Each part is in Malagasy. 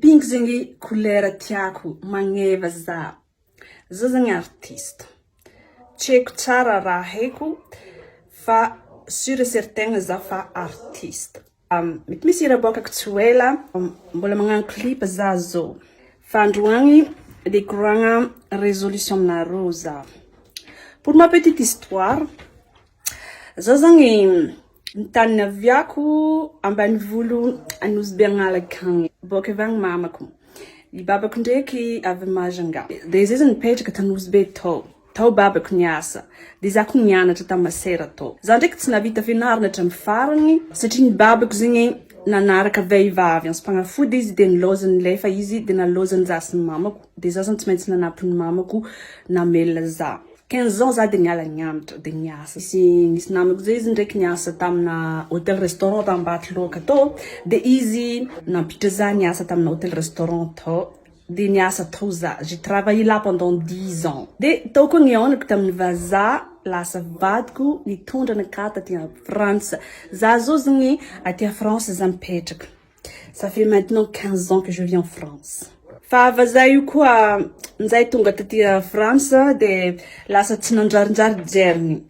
Pink zegny couleur tiako magneva za. Za zegny artiste tsy haiko tsara raha haiko fa sur et certain za fa artiste mety misy hira aboakako tsy ho ela mbola magnano clip za zao fa androany de hikoragna resolution aminareo za pour ma petite histoire Zao zany ny tany naviako ambanivolo Anosibe Analaka agny. Boaka avy agny mamako. Ny babako ndraiky avy Majunga. Dia zay zany nipetraka tany Anosibe tao. Tao babako niasa. Dia za koa nianatra tany Masera tao. Za ndraiky tsy nahavita fianarana hatramin'ny farany satria ny babako zegny nanaraka vehivavy anso-panafody izy dia nilaozan'ny lefa izy dia nalaozan'ny za sy ny mamako. Dia za zany tsy maintsy nanampy ny mamako namelona za. Quinze ans za dia niala nianatra dia niasa. Nisy nisy namako zay izy ndraiky niasa tamina hotel restaurant tany Ambatoloaka tao dia izy nampiditra za niasa tamina hotel restaurant tao dia niasa tao za. J'ai travaillé là pendant dix ans. Dia tao koa nihaonako taminy vazaha lasa vadiko nitondra anakah taty Frantsa. Za zao zany aty France za mipetraka. Ça fait maintenant 15 ans que je vis en France. Fa vazaha io koa njay tonga taty France de lasa tsy nanjarinjary jeriny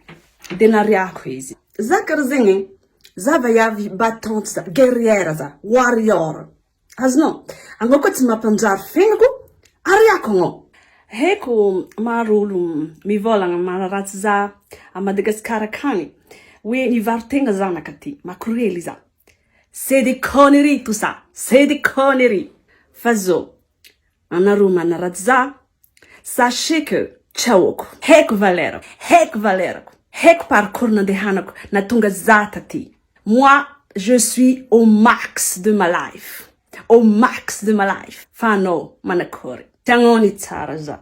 de nariako izy. Za kara zegny e, za vaiavy battante za, guerrière za, warrior. Azonao? Anao koa tsy mampanjary fiaignako, ariako anao. Haiko maro olo mivolagna manaratsy za a Madagascar akagny hoe nivaro tegna zanaka ty, makorely za. C'est des conneries tout ça, c'est des conneries fa zo anareo manaratsy za sachez que tsy ahoako, haiko valeur, haiko valeur-ko, haiko parcours nandehanako nahatonga za taty, moi je suis au max de ma life, au max de ma life fa anao manakory, tsy agnao ny tsara za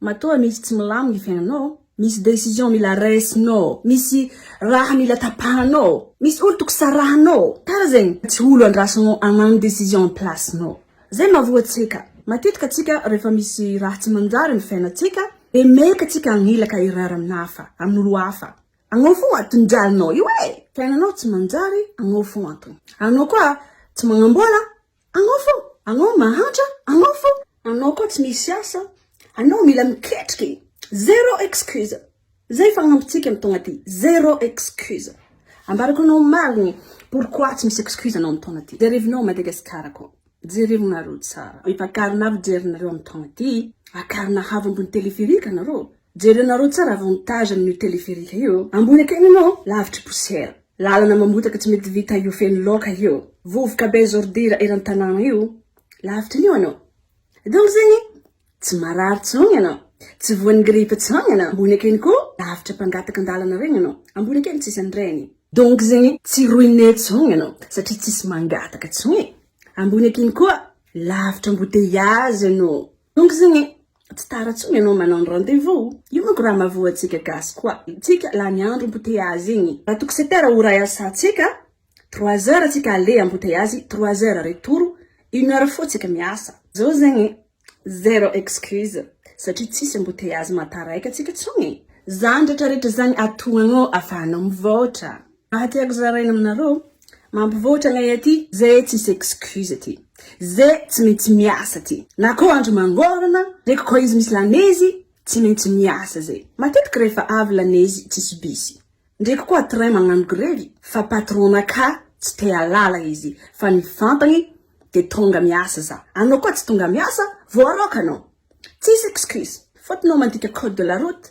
Matoa misy tsy milamy ny fiainanao, misy décision mila raisinao, misy raha mila tapahanao, misy olo toko sarahanao, tara zegny tsy olo andrasanao agnano décision am place nao. Zay mahavoa antsika. Matetika tsika refa misy raha tsy manjary am fiainatsika de meka tsika agnilaka hirara amin hafa, amin olo hafa. Agnao fô antony jalinao io e! Fiainanao tsy manjary agnao fô antony. Anao koa tsy magnambola Anao fô, anao mahantra, anao fô, anao koa tsy misy asa, anao mila miketrika e! Zéro excuse! Zay fagnampintsika am taona ty, zéro excuse! Ambarako anao marigny pourquoi tsy misy excuse anao am taona ty. Jerevinao Madagascar koa, jerevo nareo tsara, efa carnav jerinareo am taona ty, akarina havo ambony téléphérique nareo, jerenareo tsara avantage amin'io téléphérique io, ambony akeny anao lavitry poussière. Lalana mamotaka tsy mety vita io feno loka io. Vovoka be zordira eran tanana io lavitra anio anao donc zegny tsy marary tsony anao tsy voany grippe tsony anao ambony akeny ko lavitra mpangataka andalana regny anao ambony akeny tsisy anreny donc zegny tsy ruine tsony anao satria tsisy mangataka tsony ambony akeny koa lavitra embouteillage anao donc zegny Tsy tara tsony ianao manao ny rendez vous. Io manko raha mahavoa antsika gasy koa tsika lany andro embouteillages igny. Raha toko sept heures ora iasa tsika, trois heures tsika aller embouteillages, trois heures retour, une heure foa tsika miasa. Zao zegny zero excuse satria tsisy embouteillages mataraiky antsika tsony e. Zany retraretra zany atoagnao afahanao mivaotra. Raha tiako zaraina aminareo, mampivoatra anay aty zay tsisy excuse aty, zay tsy maintsy miasa aty, na koa andro mangorana, reko koa izy misy lanezy, tsy maintsy miasa zay, matetiky rehefa avy lanezy tsisy bisy, ndreky koa train magnano grevy, fa patron-na ka tsy te halala izy, fa ny fantany de tonga miasa za, anao koa tsy tonga miasa, voaraoka anao, tsisy excuse, fotony ao mandika code de la route,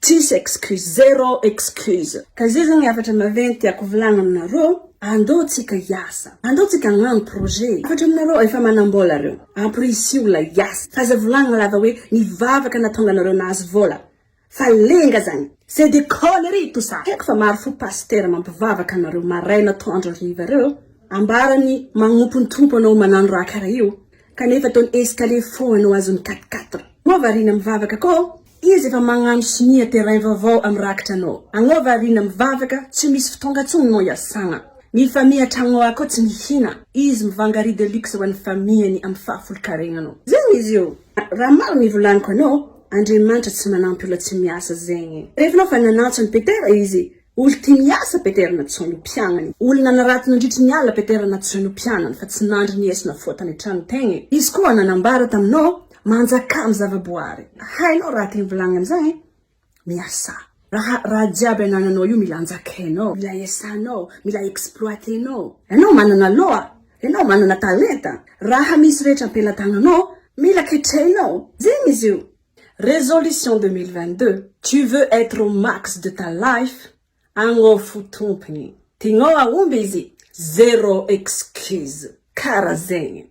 Tsisy excuse, zero excuse. Ka izay zany hafatra maventy tiako volagna aminareo, andao tsika hiasa, andao tsika hagnano projet, hafatra aminareo efa manambola reo, ampirisio la hiasa, fa aza volagna la va hoe nivavaka natonga anareo nahazo vola, fa lenga zany, c'est des conneries tout ça, haiko fa maro fo pasitera mampivavaka anareo maraina atoandro hariva reo, ambarany magnompo ny Tompo anao manano raha kara io, kanefa ataony escalier foagna no azony quatre quatre, moa variana mivavaka koa Izy efa magnano sonia terrain vaovao am rakitra no agnao variana mivavaka tsy misy ftonga tsony no iasagna mi famille atragnao akao tsy mihina izy mivanga riz de luxe ho any famille ny am faha folo karegna no zegny izy io raha maro ny volaniko anao Andriamanitra tsy manampy ola tsy miasa zegny rehefa anao fa nanatso any Petera izy Olo tia miasa Peter Natsoy no mpianany. Olo nanarato nandritry ny alina Peter Natsoy no mpianany fa tsy nandry ny esona foa tany an-trano tegna e. Izy koa nanambara taminao manjakà amin'ny zava-boary. Hainao raha tegna volagniny zagny e. Miasà. Raha raha jiaby anananao io mila anjakainao, mila esanao, mila exploitenao. Enao manana loha, enao manana talenta, raha misy rehetra am-pelatagnanao mila ketrehina ao. Zegny izy io. Résolution deux mille vingt deux, tu veux être au max de ta life, agnao fo tompony, tianao hahomby izy, zéro excuse, kara zegny.